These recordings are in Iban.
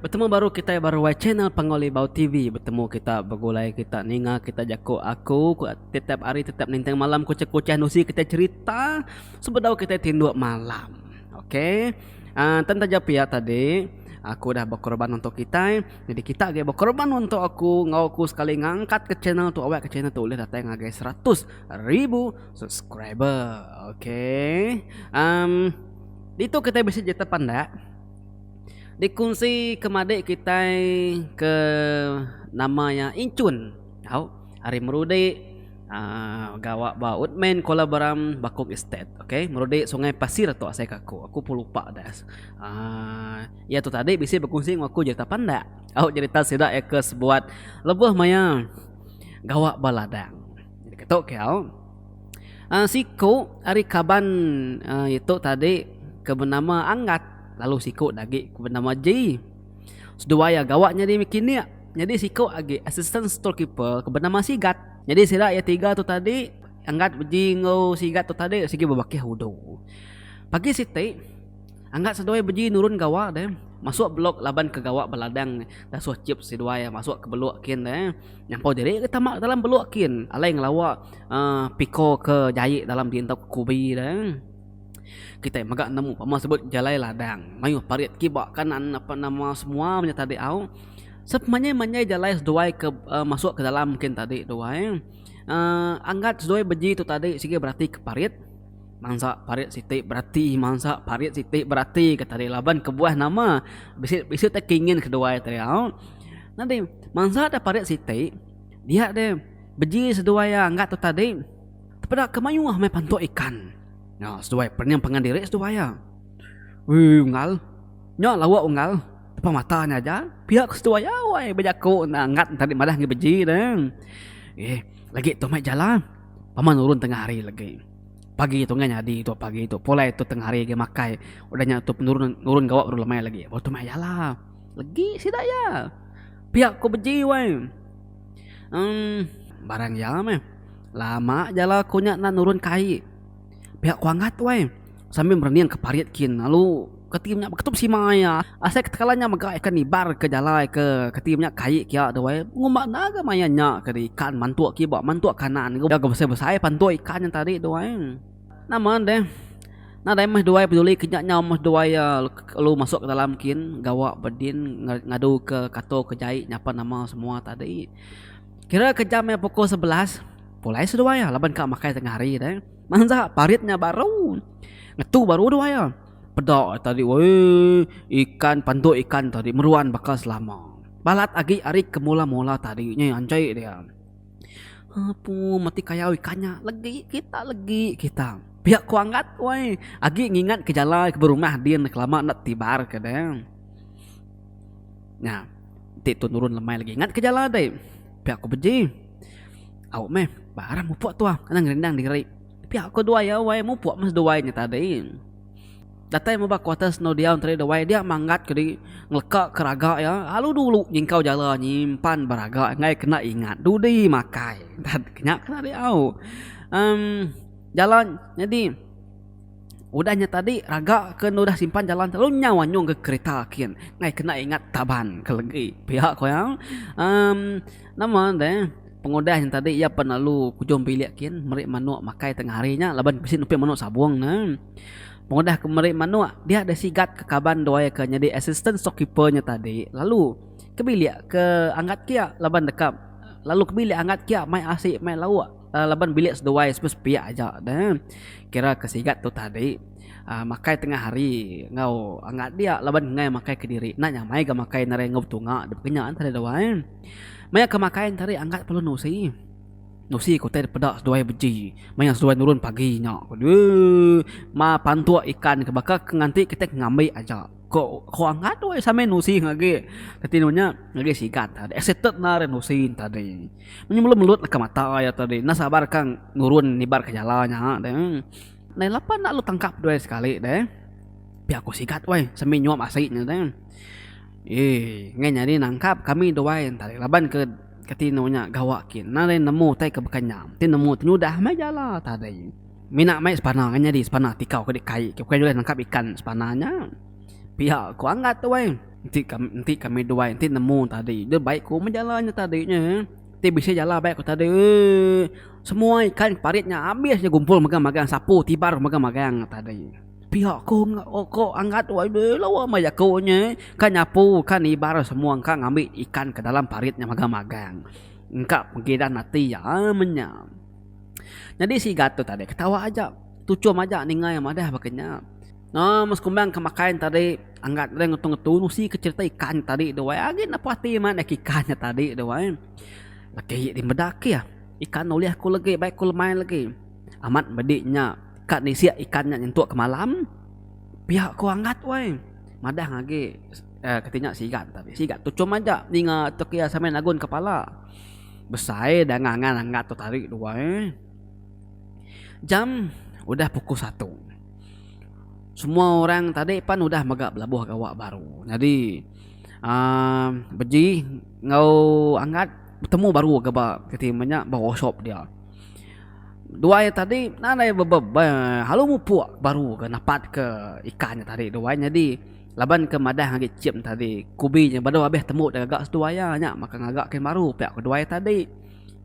Betemu baru kitai baru wai channel Panggau Libau TV betemu kita begulai kita ninga kita jaku aku tetap hari tetap nintang malam kuchah-kuchah nusi kitai cherita sebedau kitai tinduk malam ok uh, tan taja pia tadi aku dah berkorban untuk kitai jadi kita agi berkorban untuk aku ngau aku sekali ngangkat ke channel tu awak ke channel tu boleh datai ngagai 100 ribu subscriber ok um, itu kita bisa jatuh pandak Dikunsi ke madik kitai ke nama iya Incun tau ari Merudik aaa gawa ba Woodman Kuala Berang Bakong Estate ok Merudik Sungai Pasir tu asai ke aku aku pun lupa dah aaa iya tu tadi bisi bekunsi enggau aku jerita pandak tau jerita sida iya ke sebuat lebuh maya gawa ba ladang ketu kau. Siku ari kaban itu tadi ke benama Anggat lalu siku agi ke benama Jee. Seduai iya gawa nyadi mekanik. Nyadi siku agi assistant store keeper ke benama Sigat. Nyadi sida iya tiga tu tadi Anggat, Jee enggau Sigat tu tadi sigi bebakih udu. Pagi siti. Angkat seduai beji nurun gawa deh. Masuk blok laban ke gawa beladang ne. Dasuh chip seduai masuk ke beluk kin deh. Nyampau diri ke tama dalam beluk kin. Alai ngelawa uhh piko ke jai dalam di entok kubi deh. Kitai mega nemu pama sebut jalai ladang. Mayuh parit kiba kanan apan nama semua nya tadi au. Sep manjai manjai jalai seduai ke uhh masuk ke dalam kin tadi duai. Uhh angkat seduai beji tu tadi sigi berati ke parit. Mansa parit siti berati mansa parit siti berati ke tadi laban kebuah nama bisi bisi te kingin keduai te au nyadi mansa da parit siti dia de beji seduai iya ngga tu tadi peda ke mayuh meh pantuk ikan na seduai pening pangan diri seduai iya wee unggal nya lauk unggal depan mata nya aja pia ku seduai iya wai bejaku enda ngga tadi madah ngi beji de eh lagi tu meh ja lah. Pama nurun tengah hari legi. Pagi tu ngai nyadi tu pagi tu. Pulai tu tengah hari agi makai. Udah nya tu penurun nurun gawa baru lemai legi. Baru tu meh ya lah. Legi sida iya. Pia ku beji wai. Em barang iya meh. Lama ja lah ku nya nurun kai. Pia ku angat wai. Sambil merening ke parit kin lalu ketim nya beketup simai iya. Asai ketegalan nya mega ikan nibar ke jalai ke ketim nya kai kia tu ai. Pengumba enda ga maya nya ke deh ikan mantuk kiba mantuk kanan ga udah ga besai-besai pantuk ikan nya tadi tu ai. Nama deh nadai meh duai peduli ke nya nyau meh duai iya lalu masuk ke dalam kin gawa bedin ngadu ke kato ke jai nyapa nama semua tadi. Kira ke jam nya pukul sebelas pulai seduai iya laban ka makai tengah hari deh. Mansa parit nya baru. Ngetu baru udah iya. Peda tadi woi ikan pandu ikan tadi meruan baka selama. Balat agi ari ke mula-mula tadi nya anjai dia. Apu mati kayau ikan nya legi kita legi kita. Pia ku anggat woi agi ngingat ke jalai ke berumah din ke lama enda tibar ke deh. Nya ti tu nurun lemai legi ingat ke jalai ti. Pia ku beji. Au meh, ba arah mupuk tu ah, kena ngerindang diri. Pia ko duai ya wai, mupuk meh seduai nya tadi. Datai meh ba kuarter seno diau tadi duai, dia manggat ke diri ngeleka ke raga ya, lalu dulu nyingkau jala nyimpan ba raga enggai kena ingat dudi makai. Nya ke tadi au. Em jalan nyadi udah nya tadi raga ke udah simpan jalan telu nyau anyung ke kereta kin enggai kena ingat taban ke legi. Pia ko iya. Em. Nama enda eh. Pengudah nya tadi iya pan lalu kujung bilik kin meri manuk makai tengah hari nya laban bisi nupi manuk sabung ne. Pengudah ke meri manuk dia deh sigat ke kaban duai ke nyadi assistant stock keeper nya tadi lalu ke bilik ke anggat kia laban deka lalu ke bilik anggat kia mai asi mai lauk laban bilik seduai semua sepiak aja neh. Kira ke sigat tu tadi aaa makai tengah hari enggau anggat dia laban nengah makai kediri enda nya amai ga makai nengah betunga dep ke nya tadi duai. Maya ke makai entari angkat pelu nusi. Nusi ke utai dipeda seduai beji maya seduai nurun pagi nya. Ooh ma pantuk ikan ke baka ke nganti kitai ke ngambi aja. Ko ko angkat weh samain nusi ne agi. Reti nuh nya ngagai sigat tadi. Excited enda ari nusi ne tadi. Menyulut menyulut deka mata iya tadi. Enda sabar ka nurun nibar ke jala nya tadi. Nai lapa enda lu tangkap due sekali deh. Pia aku sigat weh semi nyuap asi nya deh. Eii ngai nyadi nangkap kami duai enda leh laban ke ke tino nya gawa kin enda leh nemu tai ke baka nyam ti nemu ti nyudah meh ja la tadi. Mina meh sepana ngai nyadi sepana ti kau ke dikai ke bukai ulih nangkap ikan sepana nya. Pia ku angat weh enti kami enti kami duai enti nemu tadi deh baik ku meh ja la nya tadi nya. Ti bisi jala baik ku tadi semua ikan ke parit nya abis ja gumpul megang megang sapu tibar ku megang megang ku tadi pia ku ku anggat tu ai deh lawa meh jaku nya kan nyapu kan nibar semua engka ngambi ikan ke dalam parit nya megang megang engka pengiran ati iya amun nya nyadi sigat tu tadi ketawa aja tuchum aja ninga madah baka nya. Nah, mun sekumbang ke makai ne tadi, angga deh ngetu-ngetu nusi ke cerita ikan nya tadi duai. Agi ne puas ati mayat neg ikan nya tadi duai. Laki nya ti meda keh, ikan ulih aku legi, bai ku lemai legi. Amat medi nya, ka nisik ikan nya nyentuk ke malam, pia ku anggat weh. Madah agi uhh kati nya sigat tadi, sigat tu chum aja ninga tu ke iya samai nagun kepala. Besai dang angan anggat tu tadi duai. Jam udah pukul satu. Semua orang tadi pan udah mega belabuh gawa baru. Nyadi aaa beji enggau angat betemu baru ke ba kiti meh nya ba workshop dia. Dua iya tadi nan aja bebeb be lalu mupuk baru ke napat ke ikan nya tadi dua iya nyadi laban ke madah agi chip tadi kubi nya baru habis temu da gaga seduai iya nya maka ngaga kin baru pia ku dua iya tadi.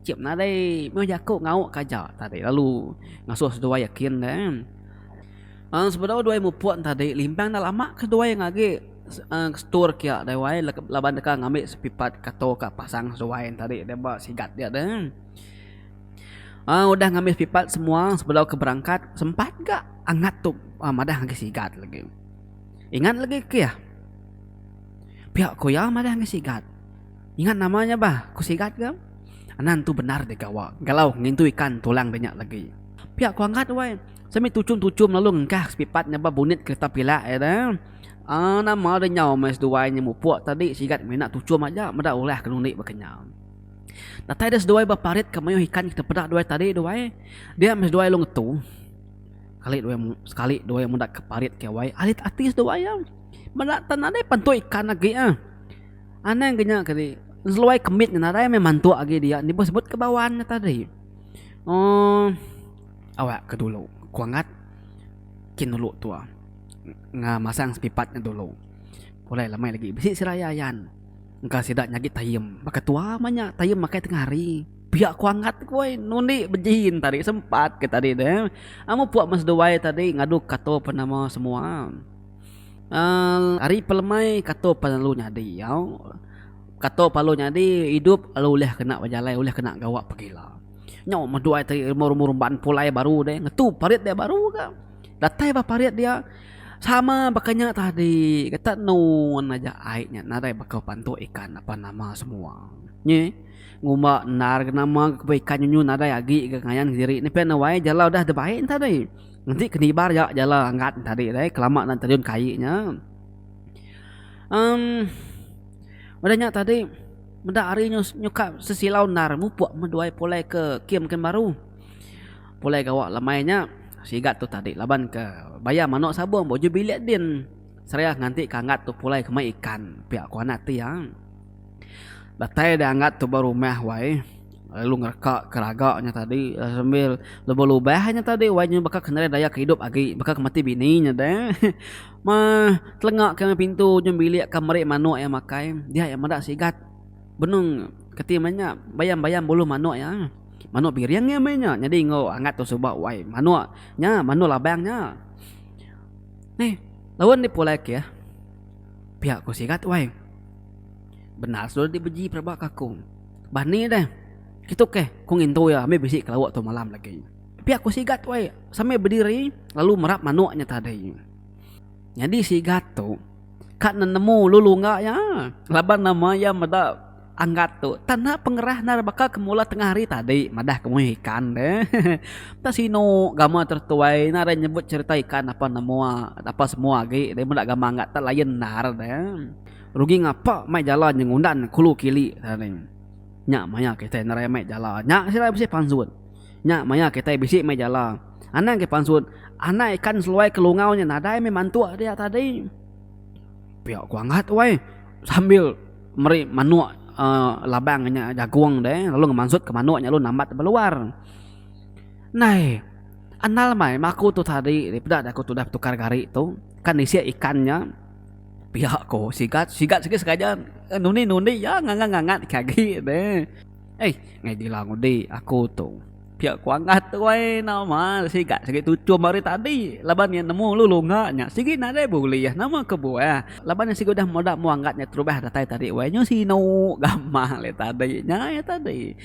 Cip nadai meh jaku ngau ka aja tadi lalu ngasuh seduai yakin deh em. Aaa sebedau duai mupuk tadi limbang enda lama ke seduai ngagi aaa ke store kia deh wai laban deka ngambi sepipat kato ka pasang seduai tadi deh ba sigat dia deh em. Aaa udah ngambi sepipat semua sebedau ke berangkat sempat ga angat tu madah ngagai sigat lagi. Ingat lagi keyh pia ku iya madah ngagai sigat. Ingat nama nya bah, ku Sigat ga. Anan tu bendar digawa galau ngintu ikan tulang dinya lagi. Pia ku Anggat wai, semi tuchum-tuchum lalu ngengkah sepipat nyabab bunit kereta pilak iya da. Aaa nama da nyau meh seduai nya mupuk tadi Sigat mina tuchum aja meda ulah ke nundi bekenyau. Datai dia seduai ba parit ke mayuh ikan ke tepeda duai tadi da wai. Dia meh seduai lalu ngetu. Sekali duai sekali duai meda ke parit ke wai arit ati seduai iya. Meda tan nadai pan tu ikan agi ah. Anang ke nya kali seluai kemit ngan arai meh mantuk agi dia ni sebut ke bawan nya tadi oh awak ke dulu ku angat kin dulu tuah enggau masang sepipat nya dulu pulai lama lagi bisi sida yayan engka sida nyagi taim baka tuah mah nya taim makai tengah hari pia ku angat ku ai nundi bejin tadi sempat ke tadi tu eh amu pok meh seduai tadi ngadu kato penama semua. Aal ari pelemai kato pan lalu nyadi au kato pan lalu nyadi idup lalu ulih kena bejalai ulih kena gawa pegila nyau medu ai tadi umur umur emban pulai baru deh ngetu parit deh baru ka datai bah parit dia sama baka nya tadi ketak nun aja ai nya nadai baka bantu ikan apan nama semua nyi ngumba endar nama ikan nyu nyu nadai agi ngayan diri ni pen wai jelau dah tebai tadi. Enti ke nibar ya jala angat tadi deh kelama enda terjun ke ai nya um udah nya tadi meda hari nyukap sesilau endar mupuk meduai pulai ke kem kem baru pulai gawa lemai nya sigat tu tadi laban ke bayar manok sabong baju bilik din seriah nganti ke angat tu pulai ke mai ikan pia ku anak ti iya datai da angat tu ba rumah wai. lalu ngereka ke raga nya tadi sambil lebuh lubah nya tadi wai nya baka kenderaian daya ke idup agi baka ke mati bini nya de meh telenga ke meh pintu ujung bilik ka meri manuk iya makai dia iya meda sigat benung keti meh nya bayam-bayam bulu manuk iya manuk biring iya meh nya nyadi enggau angat tu suba wai manuk nya manuk labang nya neh laun di pulai ke pia ku sigat wai bendar sulu di beji peraba ka aku. Bah ni deh. Kitu keh, ku ngintu iya ambi bisi kelauk tu malam agi. Pia ku Sigat wei sambil bediri lalu merap manuk nya tadi. Nyadi Sigat tu ka nenemu ulu lunga iya laban nama iya meda anggat tu tanda pengerah endar baka ke mula tengah hari tadi madah ke muih ikan deh. Enta sinu gamal tar tuai nadai nyebut cherita ikan apan amoa apan semua agi deh meda gamal anggat tu lain endar deh. Rugi ngapa mai jala nya ngundan kulu kili raning. Nya maya kitai nerai mai jala nya sida bisi pansut. Nya maya kitai bisi mai jala anang ke pansut anak ikan seluai ke lungau nya nadai meh mantuk dia tadi. Pia ku Anggat weh sambil meri manuk aaa labang nya jagung deh lalu ngemansut ke manuk nya lalu nambat ba luar. Nai anal mai maku tu tadi daripada aku tudah betukar gari tu kan isi ikan nya. Pia ko sigat sigat sigi sengaja nundi nundi ya ngangat ngangat ke agi ne. Ai ngai dila ngundi aku tu. Pia ko angah tu ai nama sigat sigi tuchum ari tadi laban iya nemu lu lunga nya sigi nadai bulih nama ke buah laban iya sigi udah meda manggat nya terubah datai tadi wai nyu sinu gamang le tadi nya iya tadi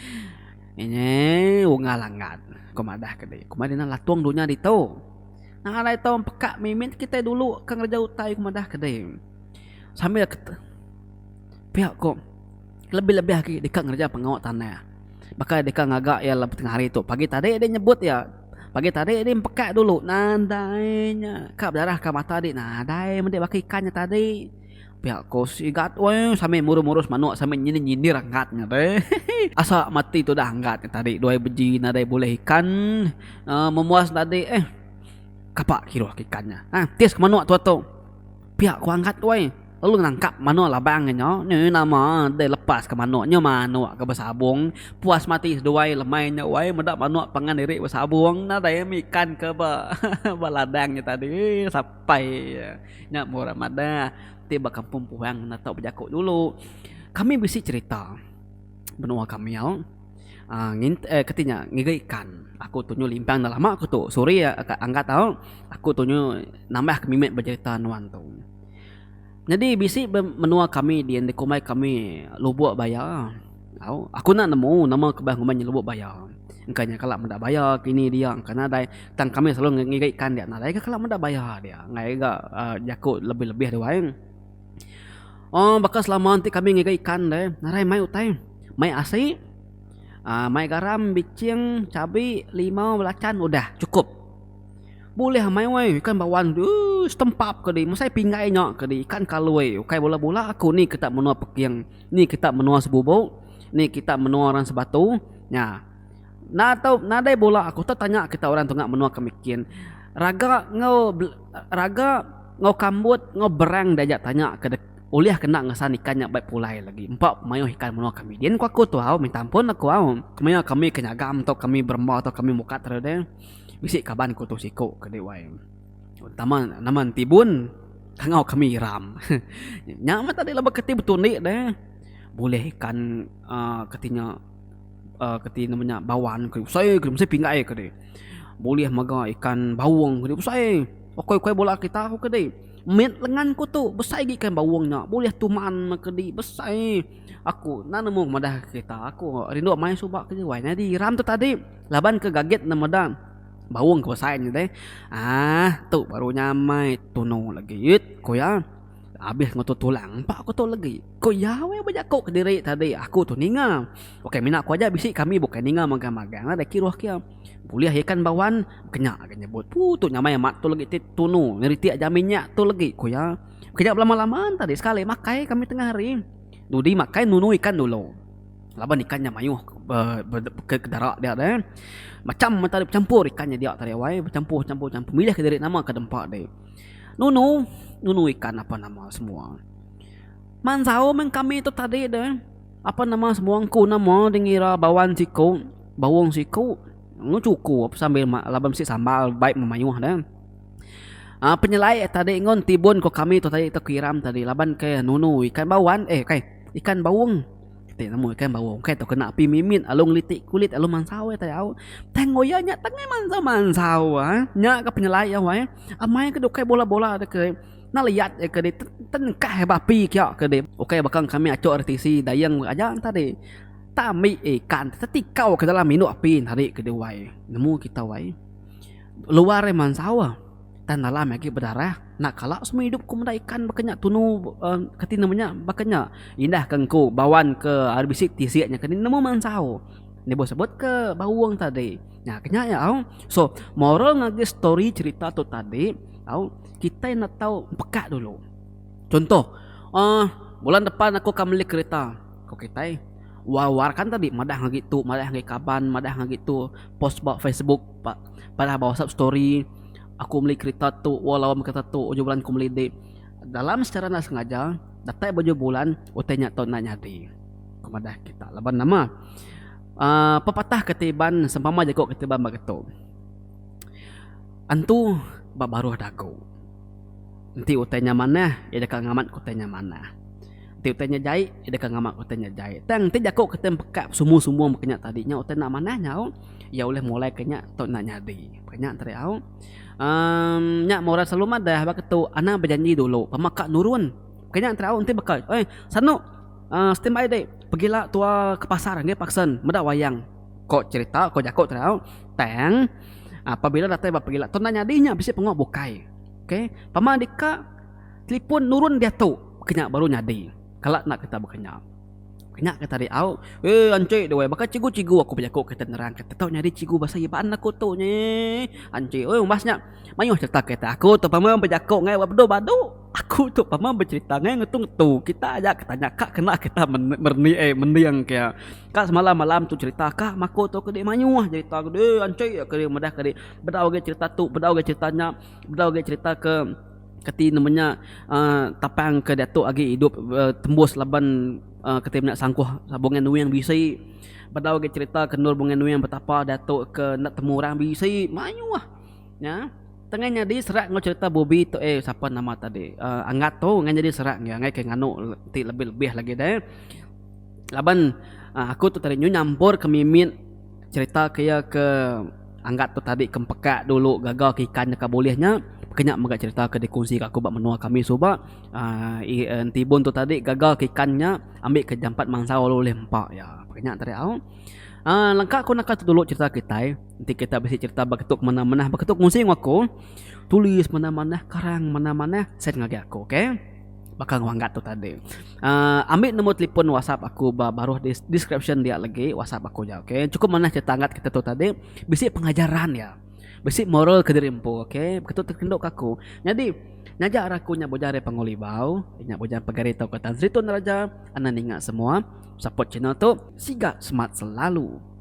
inye unga langgar ko madah ke dei kuma dina latung dunya ditu. Nang alai tau empeka mimit kitai dulu ke ngereja utai ku madah ke deh. Sambil kete pia ko lebih lebih agi deka ngereja pengawa tanah baka deka ngaga iya lebuh tengah hari tu pagi tadi deh nyebut iya pagi tadi deh empeka dulu nadai nya ka bedarah ka mata di nadai mende baka ikan nya tadi. Pia ko si Igat weh sambil murus-murus manuk sambil nyindir-nyindir Anggat nya te. Asa mati tudah Anggat nya tadi duai beji nadai bulih ikan uhh memuas tadi eh kapa kiruh ke ikan nya. Nah tis ke manuk tuah tu. Pia ko Anggat weh lalu nangkap manuk labang nya nyau. Neh nama deh lepas ke manuk nya manuk ke besabung puas mati seduai lemai nya weh meda manuk pangan diri besabung nadai mih ikan ke ba ladang nya tadi. Pai nya murah madah ti ba kampung puhang enda tau bejaku dulu. Kami bisi cerita menua kami au aaa ngint aaa kati nya ngiga ikan. Aku tunyo limpang dah lama kutu sorry a ka angkat au aku tunyo nambah ka mimit becerita nuan tu. Nyadi bisi be menua kami di enda kumbai kami Lubok Baya. Au, aku enda nemu nama ke bah ngumbai nya Lubok Baya. Engka nya kala meda baya ke ini dia engka nadai tang kami selalu ngiga ikan dia nadai ga kala meda baya dia enggai ga aaa jaku lebih-lebih dia wai. Oh baka selama ti kami ngiga ikan deh nadai mai utai, mai asi, aaa mai garam, biching, cabi, limau, belacan udah chukup. Bulih amai weh ikan bawan tu uish tempap ke di mesai pinggai nya ke di ikan kaloi ukai bela bula aku ni kita menoa peking ni kita menoa sebubu ni kita menoa orang sebatu nya na tau nadai bula aku tau tanya kita orang tu menoa ke mickin raga enggau raga enggau kambut enggau berang diaja tanya ke dek ulih ke enda ngesan ikan nya baik pulai lagi empa mayuh ikan menoa ke migin ku aku tu au minta ampun aku au kemaya kami ke nyaga tau kami beremba tau kami mukat tadi. Bisi kaban ku tu siku ke deh wai. Tama nama enti bun tangau kami iram. Nya meh tadi laban keti betundi deh bulih ikan aaa keti nya aaa keti nama nya bawan ke besai ke mesti pinggai ke deh. Bulih mega ikan baung ke besai ukai ukai bala kita ku ke deh. Mit lengan ku tu besai agi ikan baung nya bulih tuman meh ke di besai. Aku nan nemu madah kita aku rindu mai suba ke deh wai nyadi iram tu tadi. Laban ke gagit ne meda baung ke besai nya deh. Aah tu baru nyamai tunu legi it ku iya. Abis ngetu tulang empa ku tu legi. Ku iya weh bejaku kediri tadi aku tu ninga. Ukai mina ku aja bisi kami bukai ninga magang magang la deh kiruh ke iya. Bulih ikan ba wan kenya ke nyebut. Pu tu nyamai amat tu legi ti tunu ngeritik aja minyak tu legi ku iya. Kenya belama lama tadi sekali makai kami tengah hari. Dudi makai nunu ikan dulu. laban ikan nya mayuh ke darak dia deh macam mata dia becampur ikan nya dia tadi awai becampur campur campur milih ke diri nama ke dempa deh nunu nunu ikan apan nama semua manzau meh kami tu tadi deh apan nama semua engku nama deh ngira bawan siku baung siku ngu chuku ape sambil ma laban bisi sambal baik meh mayuh deh aa penyelai tadi ngun tibun ko kami tu tadi kiram tadi laban ke nunu ikan bawan eh kai ikan baung. Ti nemu ikan baru engkai tu kena api mimit lalu ngeliti kulit lalu mansau ai tayau. Tang ngoya nya tangai mansau-mansau ai. Nya ke penyelai iya wai. Amai ke ukai bola-bola deh ke enda liyat deh ke deh tenengkah ai ba api kiya ke deh. Ukai baka kami achok ari tisi dayeng meh aja enta deh tak ambi ikan tetikau ke dalam indu api enti hari ke deh wai. Nemu kita wai luar ai mansau. Tang dalam agi bedarah, enda kala semua idup ku meda ikan baka nya tunu kati nama nya baka nya indah ka engku bawan ke ari bisi tisi nya kani nemu mansau enda bau sebut ke baung tadi nya ke nya au so moral ngagai story cerita tu tadi au kitai enda tau peka dulu contoh uhh bulan depan aku akan meli kereta ku kitai war war kan tadi madah agi tu madah agi kaban madah agi tu post ba facebook. Pak padah ba whatsapp story aku meli kerita tu wau lawa meh kereta tu ujoh bulan aku meli dik dalam secara enda sengaja datai ba ujoh bulan utai nya tu enda nyadi ku madah kita laban nama uhh pepatah kati iban sempama jaku kati iban ba getu antu ba baruh dagu enti utai nya manah iya deka ngamat utai nya manah. Ti utai nya jai, iya deka ngama utai nya jai. Tang enti jaku kita peka besumbung-sumbung baka nya tadi nya utai enda manah nya au, iya ulih mulaika nya tu enda nyadi. Baka nya tadi au. Um nya meh orang selalu madah baka tu anang bejanji dulu pama ka nurun. Baka nya tadi au enti baka oi sanu um stand by deh pegi la tua ke pasar nggih paksen meda wayang. Ko cherita ko jaku tadi au. Tang apabila datai ba pegila tu enda nyadi nya bisi pengoh bukai. Okay pama deka. Telipon nurun diatu kenya baru nyadi kala enda kita bekenya. Kenya kita ari au, Weh anchi deh weh baka chigu chigu aku bejaku kita nerang kita tau nyadi chigu basa iya baan aku tu nyeh. Anchi weh umbas nya mayuh cherita kita aku tu pama bejaku ngai bala bedau badu. Aku tu pama becherita ngai ngetu ngetu kita aja ke tanya ka kena kita merenik ai mending ke ka semalam malam tu cherita ka ma aku tu kadi mayuh cherita kadi anchi kadi meda kadi bedau agi cherita tu bedau agi cherita nya bedau agi cherita ke. Kati nama nya tapang ke diatu agi idup tembus laban kati meda sangkuh Bongai Nuing bisi bedau agi cerita ke endur Bongai Nuing betapa diatu ke enda temu orang bisi mayuh nya tengah nyadi serak enggau cerita Bubi tu eh sapa nama tadi Angat tu tengah nyadi serak iya angai ke nganu ti lebih lebih lagi deh laban aku tu tadi nyu nyampor ke mimit. Cherita ke iya ke angat tu tadi kempekak dulu gaga ke ikan deka bulih nya ke nya mega cherita ke dikunsi ka aku ba menua kami suba uhh entibun tu tadi gaga ke ikan nya ambi ke jampat mansau lalu ulih empa iya ke nya tadi au uhh lengka ku naka tu dulu cherita kitai enti kita bisi cherita ba ketu ke mena mena ba ketu ke kunsi enggau aku tulis mena mena karang mena mena send ngagai aku ok. baka ngelanggat tu tadi uh, ambil nombor telefon WhatsApp aku ba baruh di description dia lagi WhatsApp aku ja okey cukup manah cerita angkat kita tu tadi bisi pengajaran ya bisi moral ke diri empu okey begitu terkenduk aku jadi ngajar aku nya boja dari pengulibau nya boja pegari tau kata Zritun Raja anak ninga semua support channel tu siga smart selalu